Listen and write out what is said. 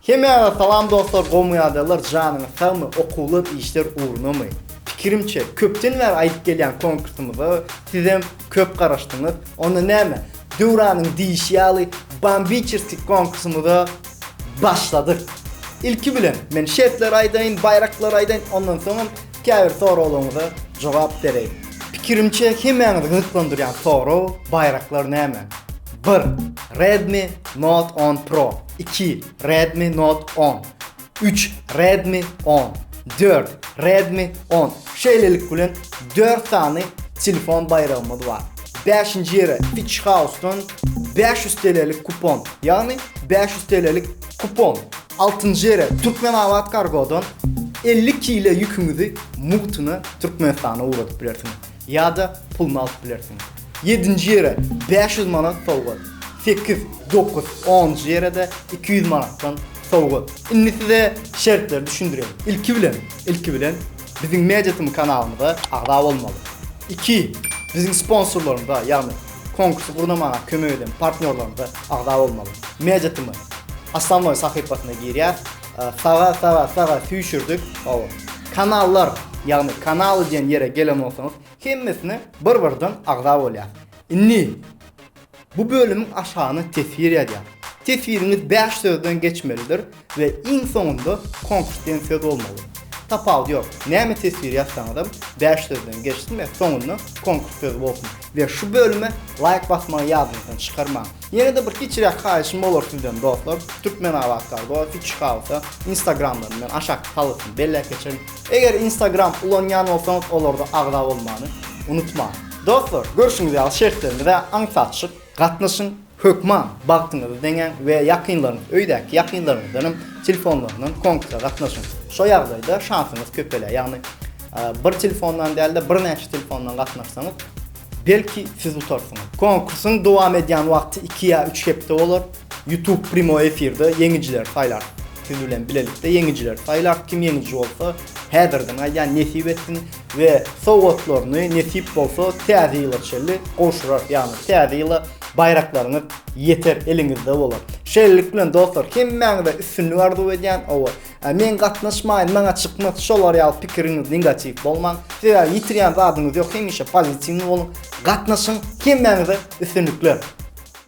Hemmäňize salam dostlar gowmyadamlar janyňyz sagmy okuwlar işler ugrunamy? Pikirimçe köpden bäri aýdyp gelýän konkursymyza sizem köp garaşdyňyz onda näme Döwranyň diýişi ýaly bambiçeski konkursymyza başladyk ilki bilen men şertleri aýdaýyn baýraklary aýdaýyn ondan soňam Käbir soraglaryňyza jogap bereýin. Pikirimçe hemäňizi gyzyklandyrýan sorag, baýraklar näme? Bir, Redmi Note on Pro, iki, Redmi Note on, üç, Redmi on, dört, Redmi on, şeýlelik bilen dört sany telefon baýragymyz bar. Bäşinji ýere Fitch House-dan bäş ýüz TL'lik kupon, ýagny bäş ýüz TL'lik kupon Altynjy ýere Türkmenabat Kargodan elli kile ýüküňizi mugtuna Türkmenistana ugradyp bilersiňiz ýa-da puluny alyp bilersiňiz. Ýedinji ýere bäş ýüz manat sowgat. Sekiz, dokuz, onunjy ýere-de iki ýüz manatdan sowgat. Indi size şertleri düşündirýän. Ilki bilen, ilki bilen biziň MediaTm kanalymyza agza bolmaly. Iki, biziň sponsorlarymyza, ýagny Konkursy gurnamaga kömek eden partnýorlarymyza agza bolmaly. Media-tm Aslanboý sahypasyna girýär. Saga saga saga süýşürdik. Hawa. Kanallar, ýagny kanaly diýen ýere gelen bolsaňyz, hemmesine bir birden agza bolýar. Indi bu bölümiň aşagyna teswir ýazýar. Teswiriňiz bäş sözden geçmelidir. We iň soňunda konsistensiýa dolmaly. Tapawudy ýok. Näme teswir ýazsaňyzam bäş sözden geçsin we soňunda konkurs sözi bolsun. We şu bölüme laýk basmagy ýadyňyzdan çykarmaň. Ýene-de bir kiçiräk haýyşym bolar sizden dostlar, Türkmenabat Kargo, Fiçi Hausa, Instagramlaryny men aşakda halysyny belläp geçerin. Eger Instagram ulanýan bolsaňyz olarda agza bolmany unutmaň. Dostlar, görşüňiz ýaly şertlerimize aňsat çyk, gatnaşyň! Hökman bagtyňyzy deňäň we ýakynlaryňyz, öýdäki ýakynlaryňyzdanam telefonlaryndan konkursa gatnaşyň. Şo ýagdaýda şansyňyz köpelýär. Ýagny bir telefondan däl-de birnäçe telefondan gatnaşsaňyz, belki siz utarsyňyz. Konkursyň dowam edýän wagty iki ýa üç hepde bolar. Youtube primoý efirde ýeňijileri saýlar. Siz bilen bilelikde ýeňijileri saýlar. Kim ýeňiji bolsa, häzirden aýdýan, nesip etsin. we sowgatlaryny nesip bolsa täze ýyla çenli gowşurarys ýagny täze ýyla baýraklaryňyz ýeter eliňizde bolar. Şeýlelik bilen dostlar hemmäňize üstünlik arzuw edýän owa men gatnaşmaýyn maňa çykmaz şolar ýaly pikiriňiz negatiw bolmaň sebäbi ýitirýän zadyňyz ýok hemişe pozitiwny boluň gatnaşyň hemmäňize üstünlikler.